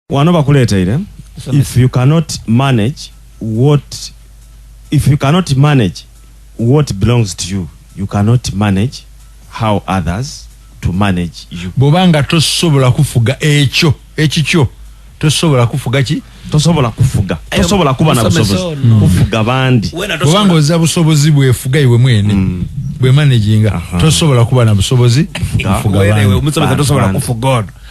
wano bakuleeteire if you cannot manage what if you cannot manage what belongs to you you cannot manage how others to manage you bwoba nga tosobola kufuga ekyo ekikyo tosobola kufuga ki tosobola kufuga tosobola kuba na busobozi kufuga bandi kubanga oza busobozi bwefuga iwe mwene mm. bwemanaginga tosobola kuba na busobozi kufuga bandi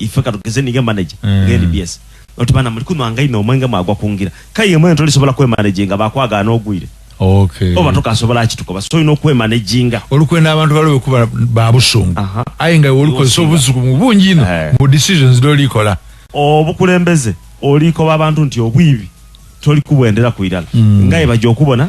ife katugeze ninga manager mm. nge NBS oti bana muli kuno angai no mwenga magwa kungira kaye mwenga toli sobola kwe managing abakwaga no gwire okay oba toka sobola akituko ba so ino kwe managing olukwenda abantu balobe kuba babusungu uh -huh. ayi ngai oluko so buzuku mu bungi no uh eh. -huh. mu decisions do likola obukulembeze oliko babantu nti obwibi toli kubwendera kuirala mm. ngai bajo kubona